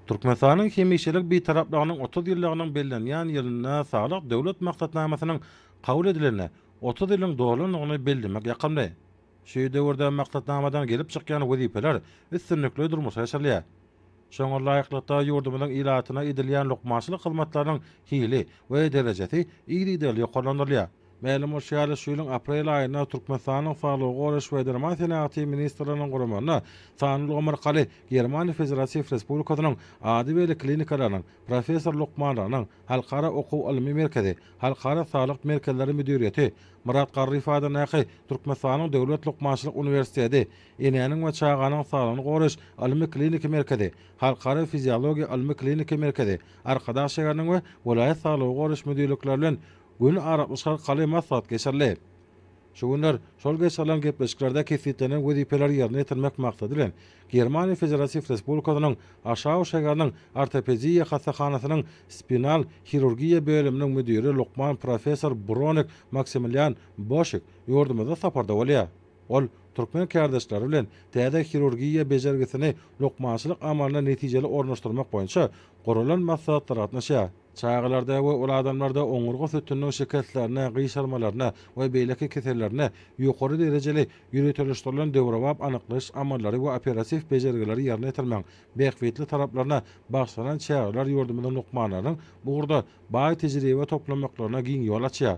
Türkmenistanyň hemişelik Bitaraplygynyň otuz ýyllygynyň bellenýän ýylynda Saglyk Döwlet maksatnamasynyň kabul edilenine otuz ýylyň dolandygyny bellemek ýakymly. Şu döwürde maksatnamadan gelip çykýan wezipeler üstünlikli durmuşa geçirilýär. Şoňa laýyklykda, ýurdumyzyň ilatyna edilýän lukmançylyk hyzmatlarynyň hili we derejesi yzygiderli ýokarlandyrylýar. Mälim bolşy ýaly, şu ýylyň aprel aýynda Türkmenistanyň Saglygy goraýyş we derman senagaty ministrliginiň guramagynda Sanly ulgam arkaly Germaniýa Federatiw Respublikasynyň ady belli klinikalarynyň professor lukmanlarynyň halkara okuw-ylmy merkezi Halkara saglyk merkezleri müdiriýeti Myrat Garryýew adyndaky Türkmenistanyň Döwlet lukmançylyk uniwersiteti Enäniň we çaganyň saglygyny goraýyş ylmy-kliniki merkezi Halkara fiziologiýa ylmy-kliniki merkezi Arkadag şäheriniň we welaýat saglygy goraýyş müdirlikleri bilen Gün arakly çykaryk galy maslahat geçirildi. Şu günler şol geçirilen gepleşiklerde kesgitlenen wezipeleri ýerine ýetirmek maksady bilen, Germaniýa Federatiw Respublikasynyň Aşau şäheriniň ortopediýa hassahanasynyň spinal hirurgiýa bölüminiň müdiri lukman professor Bronek Maksimilian Boşik ýurdumyzda saparda bolýar. Ol türkmen kärdeşleri bilen täze hirurgiýa bejergisini lukmançylyk amalyna netijeli ornaşdyrmak boýunça guralan maslahatlara gatnaşýar. Çagalarda we uly adamlarda oňurga sütüniniň şikeslerine, gyşarmalaryna we beýleki kesellerine ýokary derejeli ýöriteleşdirilen döwrebap anyklaýyş amallary we operatiw bejergileri ýerine ýetirmegiň bähbitli taraplaryna bagyşlanan çäreler ýurdumyzyň lukmanlarynyň bu ugurda baý tejribe toplamaklaryna giň ýol açýar.